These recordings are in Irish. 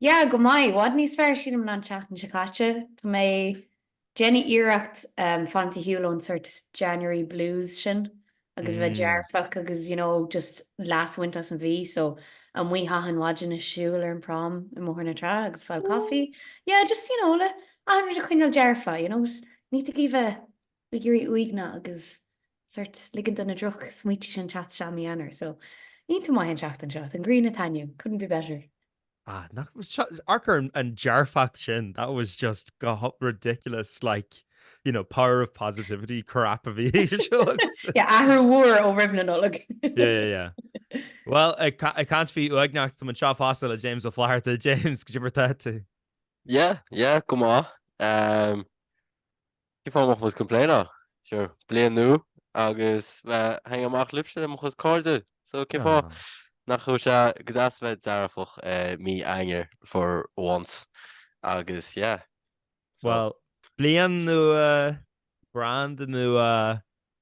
Yeah, go maith. I bhfad níos fearr, sílim, ná an tseachtain seo caite. Tá mé ag déanamh iarracht fanacht ar shiúl ón sort January blues sin agus a bheith dearfach agus you know just leas a bhaint as an mhí. So, amuigh achan mhaidin ag siúl ar an prom i mBóthar na Trá agus fáil coffee. Yeah, just you know le achan rud a choinneáil dearfach, you know, ní thig bheith ag éirí uaigneach agus sort ligint do na drochsmaointe sin teacht isteach i mí Eanáir. So, iontach maith an tseachtain seo. Tá an ghrian ag taitneamh, couldn't be better. Ah, nach bhfuil seo, amharc ar an dearfacht sin, that was just go h-, ridiculous, like, you know, power of positivity crap a bhí seo agat. Yeah, athrú mhór ó roimh na Nollag. Yeah, yeah, yeah. Bhuel, ag ca- ag caint faoi uaigneacht, tá muid anseo fosta le James Ó Flatharta. James, cad é mar atá tú. Yeah, yeah, go maith. Um, Cén fáth a mbeadh mise ag complaináil, sure, bliain nua agus bheith ag hangáil amach libhse le mo chuid cairde, so cén fáth nach bhfuil sé go deas bheith dearfach mí Eanáir for once agus yeah, so. Well, bliain nua, brand nua,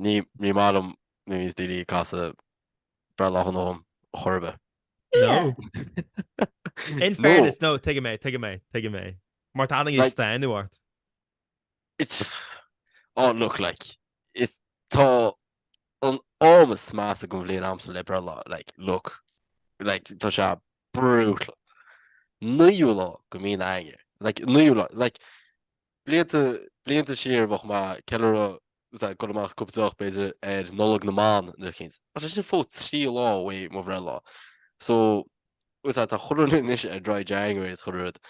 Ní maith liom nuair a bhíos daoine ag casadh breithlá shona dhom ar chor ar bith. No. In fairness, no, tuigim é, tuigim é, tuigim é. Mar tá daoine ag stánadh ort. It's, oh look, like, it's, tá an t-am is measa den bhliain agamsa le breithlá, like, look, like, tá sé brutal. Naoú lá de mhí Eanáir, like, naoú lá, like, Blianta, blianta siar, bheadh mé ag ceiliúradh, ag goil amach cúpla deoch, b'fhéidir, ar Nollaig na mBan, nuair a chéad. Ach sé sin fós trí lá uaidh, mo bhreithlá. So, tá chuile dhuine anois ar Dry January, is chuile rud.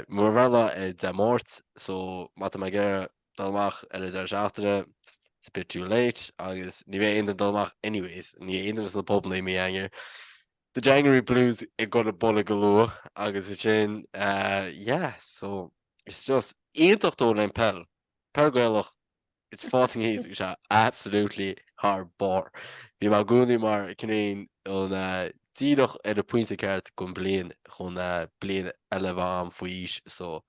Mo bhreithlá ar Dé Máirt, so, má tá mé ag iarraidh dul amach ar an deireadh seachtaine, it's a bit too late, agus ní bheidh aon duine ag dul amach anyways, ní bheidh aon duine sna pubanna i mí Eanáir. The January blues ag goil ag bualadh go luath, agus ansin, yeah, so. It's just iontach though le haghaidh peil. Peil Gaelach, it's fucking easy go sea, absolutely thar barr. Bhí mé i gcónaí mar cineál díreach ar an pointe ceart den bhliain chun bliain eile a bheith agam faoi aois so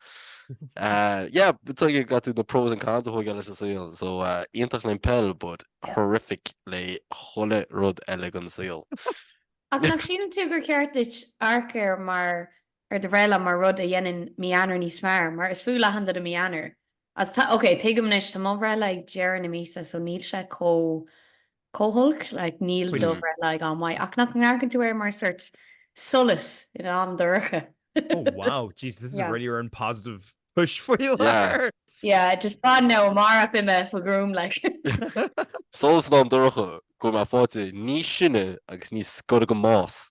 yeah, tuige got to the pros and cons ag chuile rud sa saol so iontach le haghaidh peil but horrific le chuile rud eile den saol. Ach nach síleann tú gur cheart duit amharc air mar ar do bhreithlá mar rud a dhéanann mí Eanáir níos fearr, mar is fuath le achan duine mí Eanáir. Agus tá, ok, tuigim anois, tá mo bhreithlá ag deireadh na míosa, so níl sé chomh, chomh holc, like, níl do bhreithlá ag am maith, ach nach n-amharcann tú air mar sort solas in am dorcha? Oh wow, jeez, this is a really rare and positive push faoi láthair! Yeah, just fan now, amárach beidh mé faoi ghruaim, like. Solas in am dorcha, go bhfuil mé faighte níos sine agus níos gaire don mbás.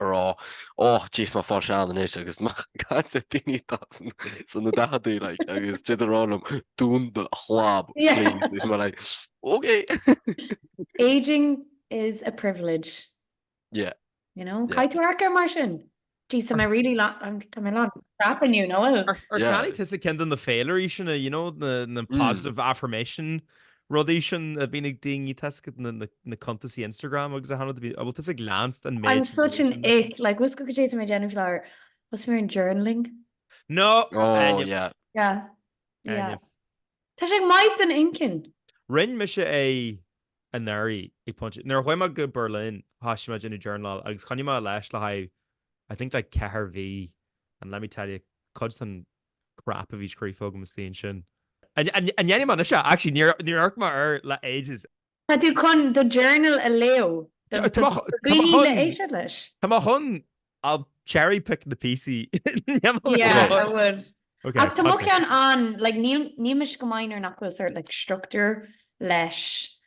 a rá, Ó, jeez, maith fáil sean anois agus mé ag caint le daoine atá sna daicheadaí, like, agus siad ag rá liom, Dún do chlab, please, is mé like, OK! Ageing is a privilege. Yeah. You know? Yeah. Caith thart air mar sin. Jeez, tá mé really lán, I'm, tá mé lán crap inniu, nó? Ar cheannaigh tusa ceann de na féilirí sin, you know, na, na Mm. positive affirmation Rudaí sin a bhíonn ag daoine toisc na cuntaisí Instagram agus a thánad a bhíonn, bhuel tusa ag leanstan.. I'm such an ick, like what's cooking today to my Jenny Flower, what's for in journaling? No! Oh yeah. Yeah. Yeah. Tá sé go maith don inchinn. Rinn mise é anuraidh ag pointe, nuair a chuaigh mé go Berlin thoisigh mé ag déanamh journaláil agus choinnigh mé leis le haghaidh I think like ceithre mhí and let me tell you, cuid den crap a bhí scríofa agam istigh ansin. An ndéanaim anois é? Actually, níor amharc mé air le ages. Tá tú chun do journal a léamh do dhaoine le héisteacht leis? Tá mé chun, I'll cherry pick na píosaí. Yeah, I would. Ach tá mo cheann an, like níl mise go maith nuair nach bhfuil sórt like structúr leis.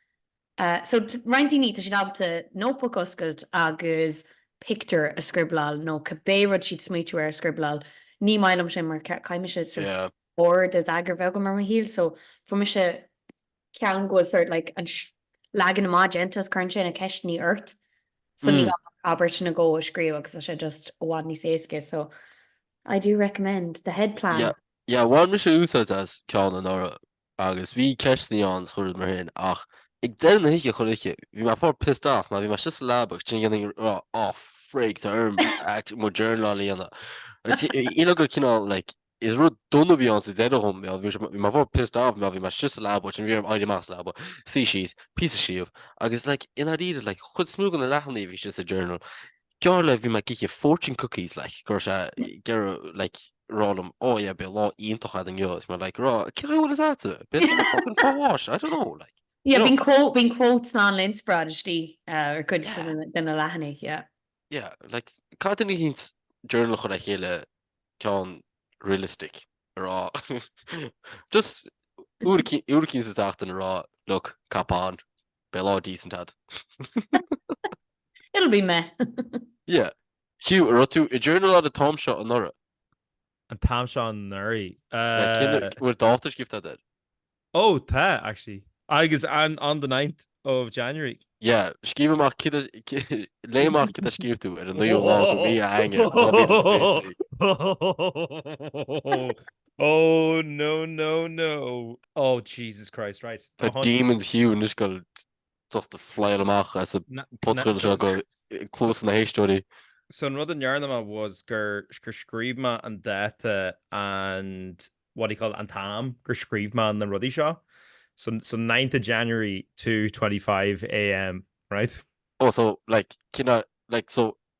So, roinnt daoine, tá siad ábalta notebook a oscailt agus pictiúr a scribleáil nó cibé rud atá siad ag smaoitiú air a scribleáil. Ní maith liom sin mar caithfidh mise sort ord agus eagar a bheith agam ar mo shaol so fuair mise ceann go bhfuil sort like an leagan amach déanta agus cuireann sé na ceisteannaí ort so ní gá ach abairt nó dhó a scríobh agus tá sé just i bhfad níos éasca so I do recommend the head plan. Yeah, yeah, bhain mise úsáid as ceann anuraidh. agus bhí ceisteanna ann le cur ort féin ach ag deireadh na hoíche chuile oíche bhí mé sórt pissed off mar bhí mé sa leaba agus ansin bhínn ag rá á frig tá orm mo journal a líonadh agus d'éirigh sé cineál like is rud dona bhí ann sa deireadh dhom bhí bhí bhí mé sórt pissed off mar bhí mé sa leaba agus ansin bhí orm éirí amach as an leaba suí síos píosa a scríobh agus like i ndáiríre like chuid mhór de na leathanaigh a bhí sin sa journal Geall le bhí mé ag ithe fortune cookies like go raibh sé ag iarraidh like rá liom oh yeah bhí lá iontach agat inniu agus mar like rá cé chaoi a bhfuil is ait tú? Bhí an fucking fá bháis I don't know like Yeah you know. bíonn quote bíonn quotes ann linn sa Brainistí eh, ar cuid de na de na leathanaigh yeah. Yeah like cad do nach ndéanann siad journal a chur le chéile ceann realistic a rá just uair eicínt uair eicínt sa tseachtain a rá look ceapaim. Beidh lá decent agat. It'll be meh. Yeah. Hugh, a raibh tú ag journaláil an t-am seo anuraidh? An t-am seo anuraidh? Like, cén fhad an bhfuil dáta scríofa air? Oh, tá, actually. Agus an, on the ninth of January. Yeah, scríobh amach cad a, léigh amach cad a scríobh tú ar an naoú lá de mhí Eanáir, dhá mhíle is fiche a trí. Oh no no no oh Jesus Christ right tá hon. Demons Hugh anois go docht ag fly amach as an phodchraoladh seo go cluasa na n-éisteoirí. So an rud a ndearna mé was gur gur scríobh mé an dáta and what do you call it an t-am gur scríobh mé na rudaí seo so so ninth of January two twenty five AM right. Oh so like cinneadh like so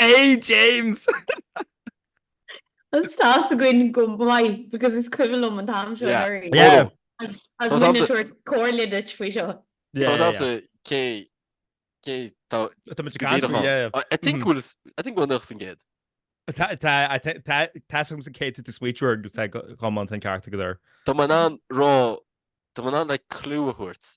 A James! Tá a fhios againn go maith, because is cuimhin liom an t-am seo anuraidh. Yeah. Is muid ag tabhairt comhairle duit faoi seo. Yeah, yeah, yeah. Cé, cé, tá... Tá muid ag caint, yeah. I think bhfuil, I think bhfuil 90%. Tá, tá, tá, tá sam sa céad tú smaointiú air agus tá go mbíonn an ceart agat air. Tá mé in ann a rá, tá mé in ann leathchlue a thabhairt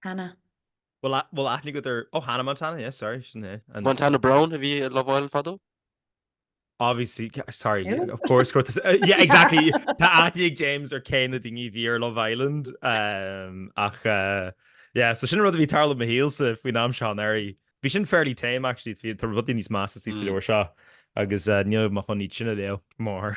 Hannah. Bhuel, actually go deo, ó Hannah Montana, yes, sorry, sin é an. Montana Browne a bhí i Love Island fadó? Obviously, sorry, of course, yeah, exactly, tá aithne ag James ar cé na daoine a bhí ar Love Island, ach yeah, so sin an rud a bhí ag tarlú i mo shaolsa faoin am seo anuraidh. Bhí sin fairly tame, actually, tá rudaí níos measa thíos sa leabhar seo agus níl mé ag gabháil iad sin a léamh, go mórthar.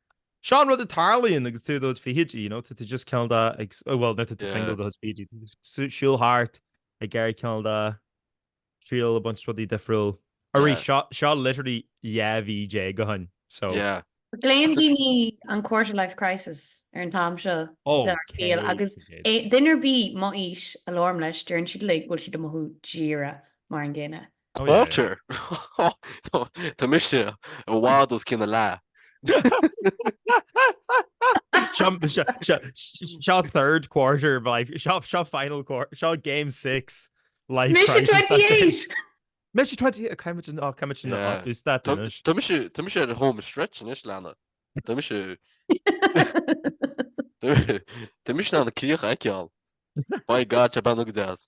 Seo an rud a tharlaíonn agus tú i do chuid fichidí, you know, tá tú just cineál de ag, bhuel, nuair atá tú single i do chuid fichidí, tá tú ag siúl thart, ag iarraidh cineál de, triail a bhaint as rudaí difriúla. Arís, seo, seo literally dhá mhí déag ó shin, so. Yeah. Glaonn daoine an quarter life crisis ar an t-am seo dár saol agus duine ar bith, m'aois, a labhraím leis, deireann siad uilig go bhfuil siad ag mothú díreach mar an gcéanna. Walter! Tá mise i bhfad os cionn a leath. Seo third quarter of life, seo final quarter, seo game six life crisis. Mise 28! Mise 28! Coimid an áit, coimid an áit, ús dat anois. Tá mise ar an home stretch anois, lads. Tá mise... Tá mise in ann an chríoch a fheiceáil. By God, tá bean agad as.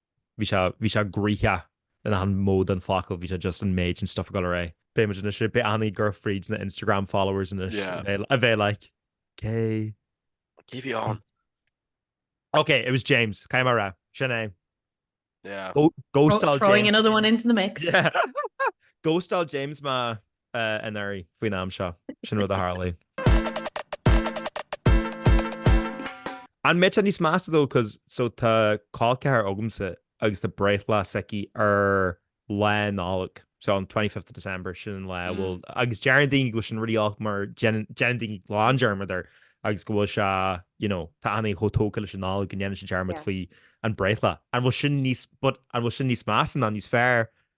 bhí sé, bhí sé graíthí in achan mhodh den fhocal, bhí sé just an méid sin stuff ag dul ar aghaidh. Beidh muid anois ag breathnú ag gabháil fríd na Instagram followers anois Yeah. a bheith- a bheith like cé Cé bhí ann? Ok, it was James, caithfidh mé a rá. Sin é. Yeah. Go- Throw- Ghostáil Throwing James. another one into the mix. Yeah. Ghostáil James mé. anuraidh faoin am seo. Sin rud a tharlaigh. An mbeidh sé níos measa though cos so tá col ceathrair agamsa agus tá breithlá s'aici ar lá Nollag. So on 25th of December sin an lá mm. bhfuil agus deireann daoine gur sin rud aisteach mar déanann daoine glan dearmad air agus go bhfuil sé you know, tá daoine chomh tógtha leis an Nollag go ndéanann siad dearmad faoi an breithlá. An bhfuil sin níos an bhfuil sin níos measa ná níos fearr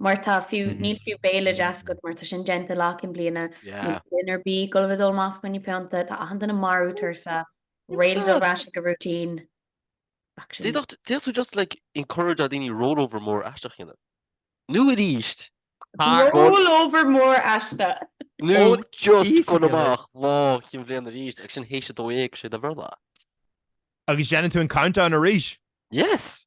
mar tá fiú, níl fiú béile deas agat mar tá sin déanta lá cinn bliana, níl duine ar bith ag gol a bheith ag dul amach fá choinne pionta, tá achan duine marbh tuirseach, réidh le dul ar ais ag a routine. Ach sin. D'fhéadfadh tú just like encourage a' daoine roll over mór aisteach a dhéanamh. Nó arís, tá. Roll over mór aisteach. Nó just gabh amach lá cinn bhliana arís agus sin théis a dó dhéag sé do Bhearla. Agus déanann tú an countdown arís. Yes!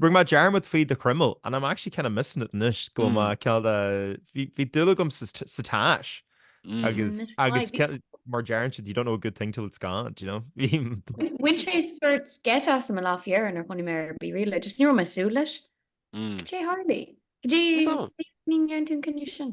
Rinne mé dearmad faoi do chroiméal and I'm actually kind of missing it anois go bhfuil mé caillte bhí dúil agam sa tache agus agus mar a deireann siad you don't know a good thing till it's gone do you know bhain sé sórt geit asam lá faoi dheireadh nuair a chonaic mé ar BeReal just ní raibh mé súil leis Caidé a tharlaigh? Cé ní gceann tú cinne sin?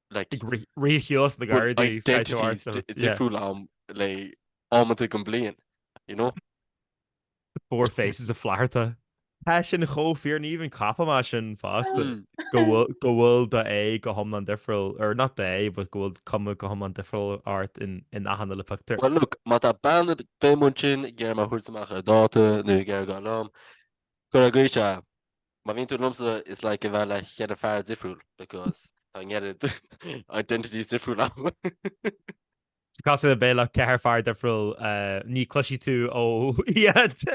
ríchiús na Gardaí difriúil agam le amanta den bhliain, you know? Four Faces of Flatharta. Tá sin chomh fíor ní even, ceapaimse sin fosta, go bhfuil d'aghaidh go hiomlán difriúil, or not d'aghaidh, but go bhfuil cuma go hiomlán difriúil ort in achan uile pictiúr. Well look, má tá bean ar bith amuigh ansin ag iarraidh mé a thabhairt amach ar dháta nó ag iarraidh gol liom, cur ar gaois a, Má bhíonn tú liomsa, is like a bheith le cheithre fear difriúil because tá na ceithre identities difriúil agam. Cosúil le bheith le ceithre fear difriúil, ní chloisfidh tú ó iad.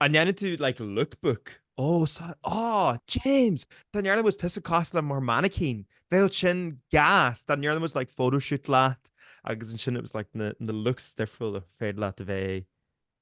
An ndéanann tú like lookbook? Ó, sa, á, James! Dá ndearna muid tusa cosúil le mar mannequin, bheadh sin gas! Dá ndearna muid like photoshoot leat agus ansin it was like na looks difriúil ar féidir leat a bheith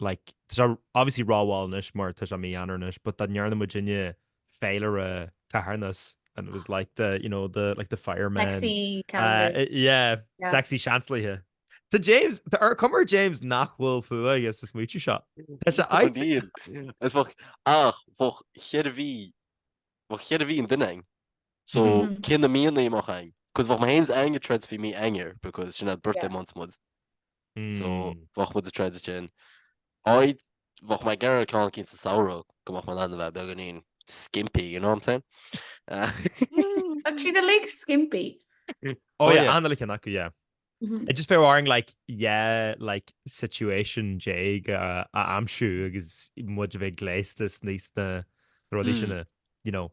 like, tá sé obviously rómhall anois mar tá sé mí-Eanáir anois, but dá ndearna muidinne féilire carthanais and it was like the, you know, the, like the firemen. Sexy calendars. Uh, yeah, yeah, sexy Seansálaithe. Tá James, tá an chuma ar James nach bhfuil fuath aige sa smaoitiú seo. Tá sé ag. Níl. Is bheadh, ach bheadh cheithre mhí, bheadh cheithre mhí an duine againn. So, cé na míonna amach ann? Cos bheadh mé féin 's ag ag troid faoi mí Eanáir because sin ár birthday months muid. so bheadh muid ag troid ansin. Áidh, bheadh mé ag iarraidh ceann eicínt sa samhradh go mbeadh mé in ann a bheith beagáinín, skimpy, you know what I'm saying? Bheadh siad uilig skimpy. Oh yeah, achan uile cheann acu, yeah. It just bheadh orainn like dhá like situation déag a aimsiú agus muid a bheith gléasta sna rudaí sin a, you know,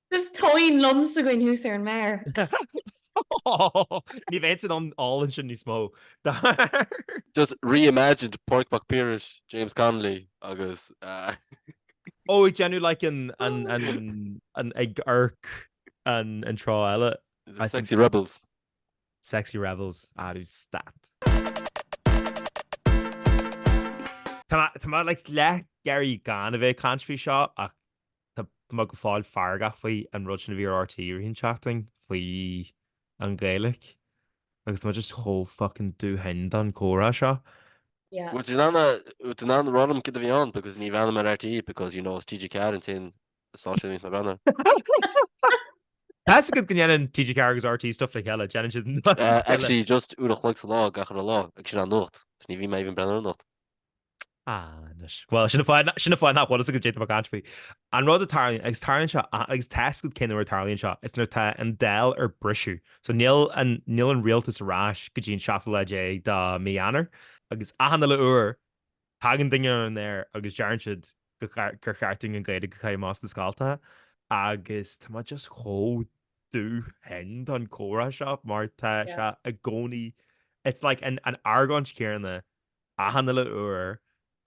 Is tóin liom sa gcoin thuas ar an méar. Ní bheidh sin ann álainn sin níos mó, dar. Just reimagined Pádraig Mac Piarais, James Connolly agus eh. Ó ag déanamh like an an an ag amharc an an treo eile. The sexy rebels. Sexy rebels ara stad. Tá mé leath ag iarraidh gan a bheith ag caint faoi seo ach. Tá mé go fóill feargach faoi an rud sin a bhí ar RTÉ i rith an tseachtain faoi an Ghaeilic agus tá mé just chomh fucking dubh thinn don comhrá seo. Yeah. Bhfuil tú in ann a, bhfuil tú in ann rá liom cad a bhí ann because ní bhreathnaím ar RTÉ because you know is TG4 an t-aon stáisiún a bhíonns mé ag breathnú air. Tá's agat go ndéanann TG4 agus RTÉ stuff le chéile, déanann siad an rud Uh, céanna. actually just uair a chloig sa lá gach uile lá agus sin an nuacht. Is ní bhím even ag breathnú ar an nuacht. Anois. Bhuel, sin an fáth nach bhfuil a fhios agat cad é tá mé ag caint faoi. An rud a tharlaíonn agus tarlaíonn seo agus tá's agat cén uair tarlaíonn seo is nuair tá an Dáil ar briseadh. So níl an níl an rialtas ar ais go dtí an 7 lá déag de mí Eanáir agus achan uile uair tagann duine ar an aer agus deireann siad gur cheart dúinn an Ghaeilge a chaitheamh as na scoltacha agus tá mé just chomh dubh thinn don comhrá seo mar tá sé i gcónaí it's like an, an argóint céarna achan uile uair,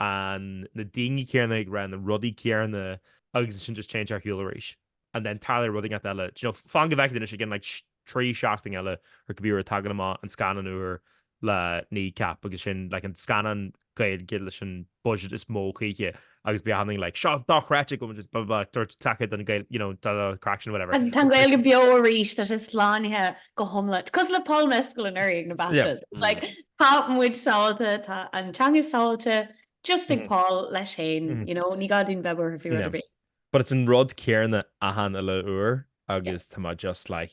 an na daoine céanna ag rá na rudaí céanna agus ansin just téann sé ar shiúl arís and then tarlaíonn rud inteacht eile, d'you know, fan go bhfeicfidh tú anois, again like trí sheachtain eile or cibé uair tagann amach an scannán úr le Kneecap agus sin like an scannán Gaeilge leis an budget is mó choíche agus beidh achan duine like seo dochreidte go bhfuil bla bla tabhairt taca don Ghaeilge you know an craic sin whatever. Tá an Ghaeilge beo arís tá sé slánaithe go hiomlán. Cosúil le Paul Mescal anuraidh ag na Baftas. It's like tá muid sábhailte, tá an teanga sábhailte just ag Paul leis féin you know ní gá dúinn bheith buartha faoi rud ar bith. But it's an rud céarna achan uile uair agus tá mé just like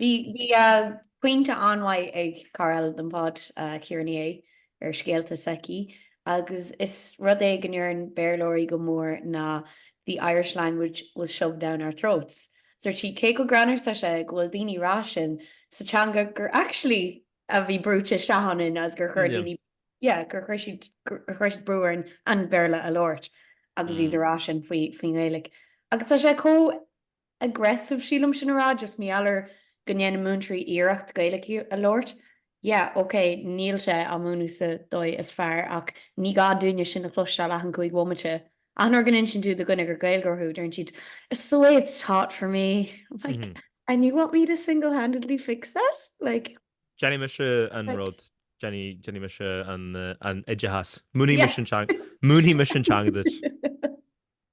Bhí pointe an-mhaith ag cara eile don pod, Ciara Ní É, ar scéalta s'aici agus is rud é go ndeireann Béarlóirí go mór ná the Irish language was shoved down our throats. Dúirt sí cé chomh greannmhar is tá sé go bhfuil daoine rá sin sa teanga gur actually a bhí brúite isteach ionainn agus gur chuir daoine, yeah, gur chuir siad, gur chuir siad brú orainn an Béarla a labhairt agus iad ag rá sin faoi, faoin nGaeilge. Agus tá sé chomh. aggressive sílim sin a rá, just mar gheall air go ndéanann múinteoirí iarracht Gaeilge a labhairt. Yeah, ok, níl sé á múineadh sa dóigh is fearr ach ní gá dúinne sin a chloisteáil achan cúig bhomaite. Achan uair go n-insíonn tú do dhuine gur Gaeilgeoir thú, deireann siad It's the way it's taught for me. I'm like, And you want me to single-handedly fix that? Like, Déanfaidh mise an rud, déanfaidh mise an oideachas. Múinfidh mise an teanga duit.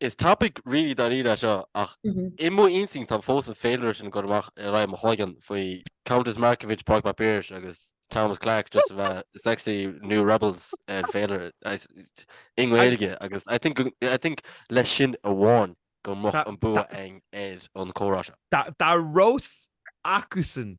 Is topic really dáiríre é seo, ach i mo intinn tá fós an féilire sin ag dul amach ar aghaidh i mo chloigeann faoi Countess Markievicz, Pádraig Mac Piarais agus Thomas Clarke just a bheith sexy new rebels ar féilire i nGaeilge agus I think, I think leis sin amháin go mbeadh an bua againn ar an comhrá seo. Dá raibh a fhios acusan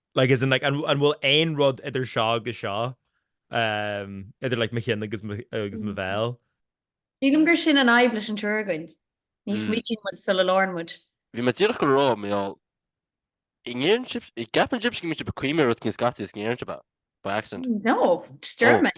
Like, as in, like, an bhfuil aon rud idir seo agus seo? Um, idir, like, mo chinn agus mo, agus mo bhéal? Sílim gur sin an fhadhb leis an triúr againn, ní Mm. smaoitíonn muid sula labhrann muid. Bhí mé díreach go raibh mé á an ndeireann sibh an gceapann sibh go mbíonn sibh ag cuimhneamh ar rud eicínt scaití is go ndeireann sibh é by accident. No, just dearmad.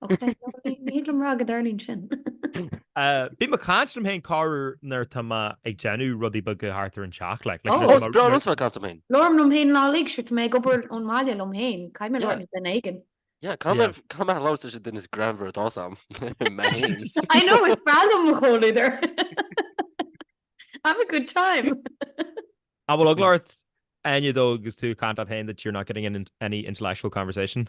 Ní thig liom a rá go dtarlaíonn sin. Bím ag caint liom féin go háirithe nuair tá mé ag déanamh rudaí beaga thart ar an teach. Is breá liom bheith ag caint liom féin. Labhraím liom féin lá uilig, sure, tá mé ag obair ón mbaile liom féin, caithfidh mé labhairt le duine éigin. Yeah, caithfidh mé labhairt leis an duine is greannmhaire atá a fhios agam, mé féin. I know, is breá liom mo chomhluadar. Have a good time. An bhfuil eagla ort, Áine, though agus tú ag caint leat féin that you're not getting any intellectual conversation?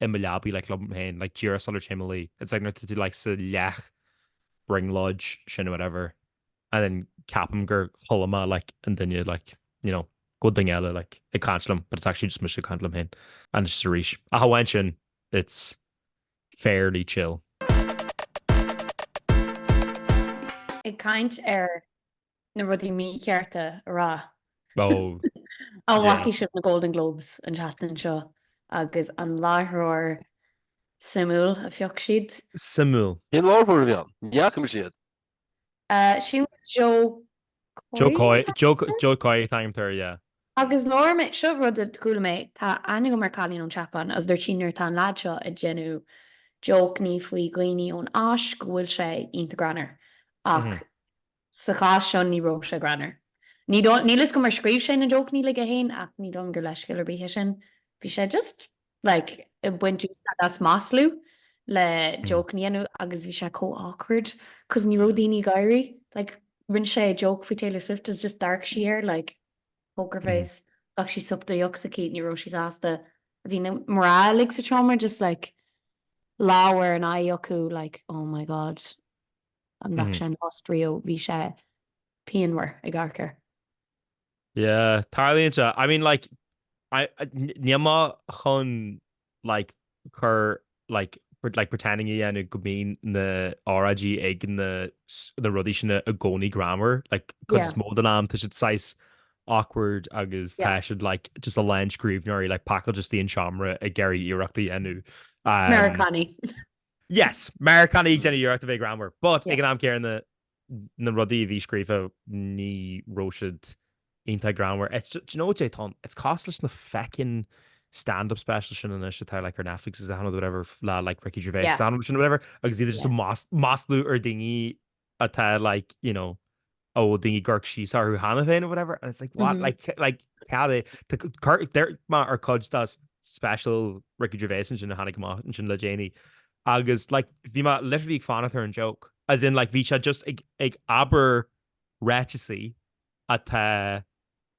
i mo leabaidh like liom féin like díreach sular téim a luí it's like nuair atá tú like sa leath brionglóid sin or whatever and then ceapaim gur chuala mé like an duine like you know gur duine eile like ag caint liom but it's actually just mise ag caint liom féin and it's just arís ach amháin sin it's fairly chill Ag caint ar na rudaí míchearta a rá. An bhfaca sibh na Golden Globes an tseachtain seo agus an láithreoir suimiúil a phioc siad? Suimiúil? Cén láithreoir a bhí ann? Ní fhaca mise iad. Sin Jo Koy? Jo Koy, Jo Koy an t-ainm atá air, yeah. Agus labhair mé, seo rud a chuala mé, tá aithne agam ar cailín ón tSeapáin agus dúirt sí nuair atá an leaid seo ag déanamh jócannaí faoi dhaoine ón Áis go bhfuil sé iontach greannmhar ach Sa chás seo ní raibh sé greannmhar. Ní dóigh, níl fhios agam ar scríobh sé na jócannaí uilig é féin ach ní dóigh liom gur leithscéal ar bith é sin. Bhí sé just, like, ag baint úsáid as maslú le jócannaí a dhéanamh agus bhí sé chomh awkward cos ní raibh daoine ag gáire. Like, rinne sé joke faoi Taylor Swift is just d'amharc sí air, like, poker face, ghlac sí sup den deoch s'aici, ní raibh sí sásta. Bhí na mná uilig sa tseomra just, like, lámh ar an aghaidh acu, like, oh my god. an mbeadh sé in Austria bhí sé pianmhar ag amharc air. Yeah, tarlaíonn sé. I mean, like, níl mé chun, like, cur, like, like pretending a dhéanamh go mbíonn na óráidí ag na na rudaí sin i gcónaí greannmhar, like, cuid is mó den am tá siad saghas awkward agus tá siad, like, just a lán scríbhneoirí, like, pacáilte isteach in aon seomra ag iarraidh iarracht a dhéanamh. Meiriceánaigh. Yes, Meiriceánaigh ag déanamh iarracht a bheith greannmhar, but ag an am céanna na rudaí a bhí scríofa ní raibh siad iontach greannmhar. It's ju- do you know cad é atá ann, it's cosúil leis na feckin' stand-up specials sin anois atá like ar Netflix is ann nó whatever, f- le like Ricky Gervais Yeah. is iad sin whatever, agus iad just Yeah. ag mas- maslú ar daoine atá like, you know, ó daoine ag amharc síos orthu cheana féin nó whatever, and it's like, what? Like, like, cad é? D'amharc mé ar cuid dá s- special Ricky Gervais ansin a tháinig amach ansin le déanaí. Agus, like, bhí mé literally ag fanacht ar an joke. As in, like, bhí sé just ag, ag abair ráiteasaí atá,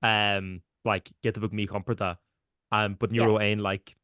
um, like, giota beag míchompordach, um, but ní Yeah. raibh aon, like,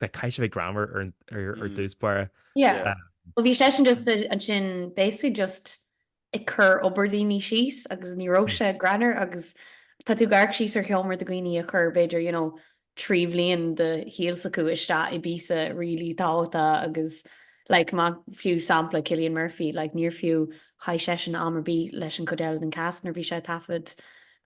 caithfidh sé bheith greannmhar ar dtús báire. Yeah. Um, Well, bhí seisean just ansin basically just ag cur obair daoine síos agus ní raibh sé greannmhar agus tá tú ag amharc síos ar sheomra de dhaoine a chuir b'fhéidir, you know, trí bhliain de shaol s'acu isteach i bpíosa really tábhachtach agus like mar fiú sampla Cillian Murphy, like níor fiú chaith seisean am ar bith leis an cuid eile den cast nuair a bhí sé ag taifead.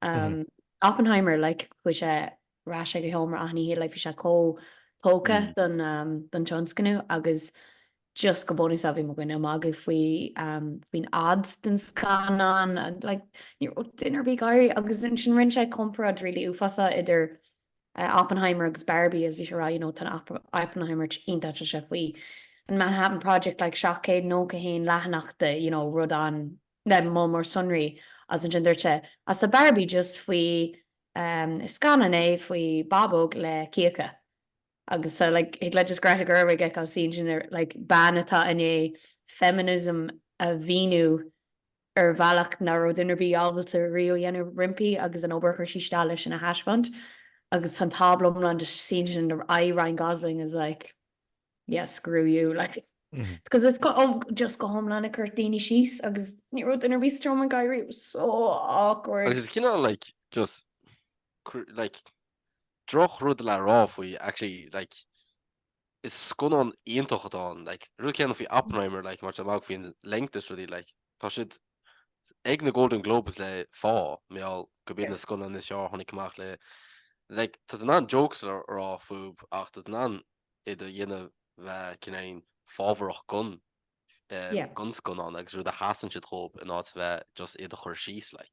Um, Oppenheimer, like chuaigh sé ar ais go seomra achan oíche like bhí sé chomh tógtha don tionscnamh agus just go bunúsach bhí mo dhuine ag magadh faoi faoin fhad den scannán like ní raibh duine ar bith ag gáire agus ansin rinne sé comparáid really uafásach idir Oppenheimer agus Barbie agus bhí sé a rá you know tá Oppenheimer iontach tá sé faoi an Manhattan Project like 791 leathanach de you know rud an-, le moll mór sonraí, agus ansin dúirt sé agus tá Barbie just faoi Is scannán é faoi bábóg le cíocha agus tá like thig leat just Greta Gerwig a fheiceáil suí ansin like bean atá i ndiaidh feminism a mhíniú ar bhealach nach raibh duine ar bith ábalta riamh a dhéanamh roimpi agus an obair a chuir sí isteach leis sin a thaispeáint agus tá an tábla iomlán just suí ansin aghaidh Ryan Gosling is like yeah, screw you, like, because it's go, oh, just go hiomlán ag cur daoine síos agus ní raibh duine ar bith sa tseomra ag gáire, it was so awkward. Agus is cineál, like, just, like, drochrud le rá faoi, actually, like, is scannán iontach atá ann, like, rud céanna faoi Oppenheimer, like, mar magadh faoin length is rudaí, like, tá siad ag na Golden Globes le fáth, mar gheall gurb iad na scannáin is fearr a tháinig amach le, like, tá tú in ann jokes a rá fúb, ach tá tú in ann iad a dhéanamh bheith cineál fabhrach gon gon scannán agus rud a sheasann siad dhóib in áit bheith just iad a chur síos like.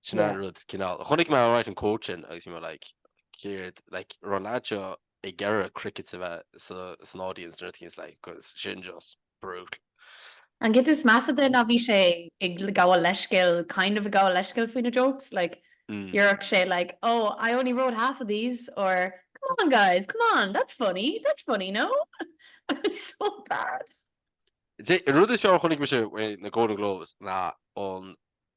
Sin an rud cineál. Chonaic mé right an quote sin agus you know like céard like an raibh an leaid seo ag iarraidh cricket a bheith san audience nó rud éicint like 'cause sin just brutal. An chuid is measa de ná bhí sé ag gabháil leithscéil, kind of ag gabháil leithscéil faoi na jokes, like dhéarfadh sé like oh I only wrote half of these or come on guys, come on, that's funny, that's funny, no? It was so bad. An rud is fearr a chonaic mise faoi na Golden Globes ná an.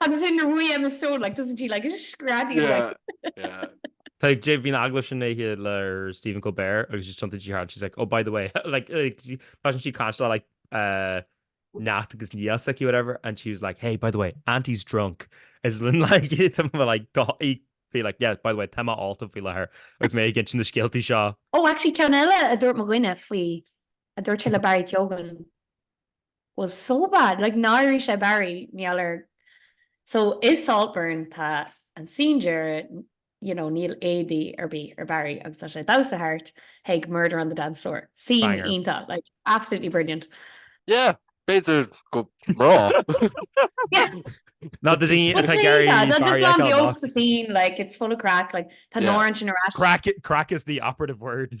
Agus sin na ruaí Emma Stone, like doesn't she like it? Screadaí an ruaí. Yeah, yeah. Tá ag Dave, bhí an agallamh sin aici le Stephen Colbert agus just thiontaigh sí thart, she's like, oh by the way, like bhí sí ag caint le like neacht agus nia s'aici whatever and she was like, hey by the way, Auntie's drunk. Is linn like tá mé like go í feel like yeah by the way, tá mé ólta faoi láthair agus mé ag insint na scéaltaí seo. Oh actually ceann eile a dúirt mo dhuine faoi, a dúirt sé le Barry Keoghan, Well so bad, like náirigh sé Barry, níl air so i Saltburn tá an scene deireadh you know níl éadaí ar bith ar Barry agus tá sé ag damhsa thart chuig Murder on the Dance Floor, scene iontach like absolutely brilliant. Yeah, b'fhéidir go raibh. Ná do daoine atá Gary just love the old scene like it's full of crack like tá nóir an sin crack crack is the operative word.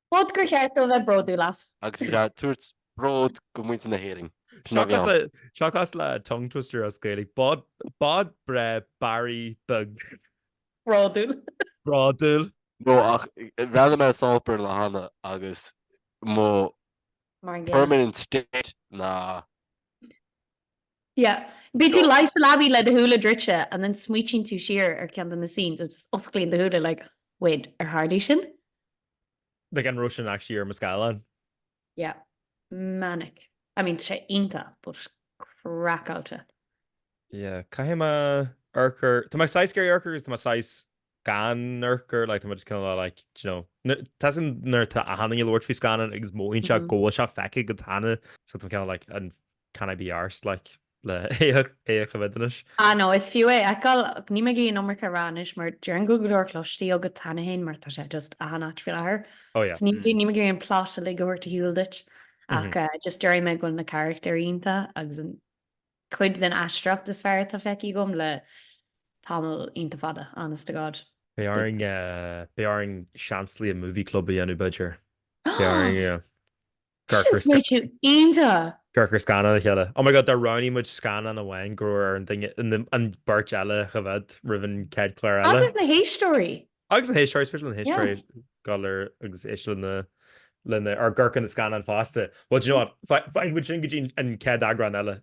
Bod gur cheart dó a bheith bródúil as. Agus bhí sé ag tabhairt bród go muintir na hÉireann. Seachas le tongue twister as Gaeilge, bod breá Barry beag. Bródúil. Bródúil. No, ach bhreathnaigh mé ar Saltburn le Hannah agus mo permanent state ná. Yeah. Bíonn tú luí sa leabaidh le do shúile druidte and then smaoitíonn tú siar ar cheann de na scenes agus osclaíonn do shúile like, wait, ar tharlaigh sin? Like an raibh sin actually ar mo scáileán? Yeah. Manic. I mean, tá sé iontach, but craiceáilte. Yeah, caithfidh mé amharc air, tá mé saghas ag iarraidh amharc air agus tá mé saghas gan amharc air, like tá mé just kind of like, do you know, tá sin nuair atá achan duine ag labhairt faoi scannán agus mothaíonn sé go bhfuil sé feicthe agat cheana, so tá mé kind of like, an Can I be arsed like le é a choimhéad anois. Ah no, is fiú é a fheiceáil, ach níl mé ag iarraidh an iomarca a rá anois, mar déarfainn go bhfuil go leor cloiste agat cheana féin, mar tá sé just achan áit faoi láthair. Oh yeah. So níl mé ag iarraidh an plot uilig a thabhairt ar shiúl duit, ach just déarfaidh mé go bhfuil na carachtair iontach, agus an cuid den aisteoireacht is fearr atá feicthe agam le tamall iontach fada, honest to God. Beidh orainn, beidh orainn seans like movie club a dhéanamh b'fhéidir. Beidh orainn. Sin smaoitiú iontach! Ag amharc ar scannán le chéile. Oh my God, dá roghnaigh muid scannán amháin, go raibh ar an duine, an beirt eile a choimhéad roimh an chéad chlár eile. Agus na héisteoirí! Agus na héisteoirí, is féidir le na héisteoirí dul ar agus éist le na, le na, amharc ar na scannáin fosta. Well, do you know what, fágfaidh muid sin go dtí an chéad eagrán eile.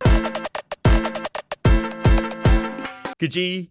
Go dtí!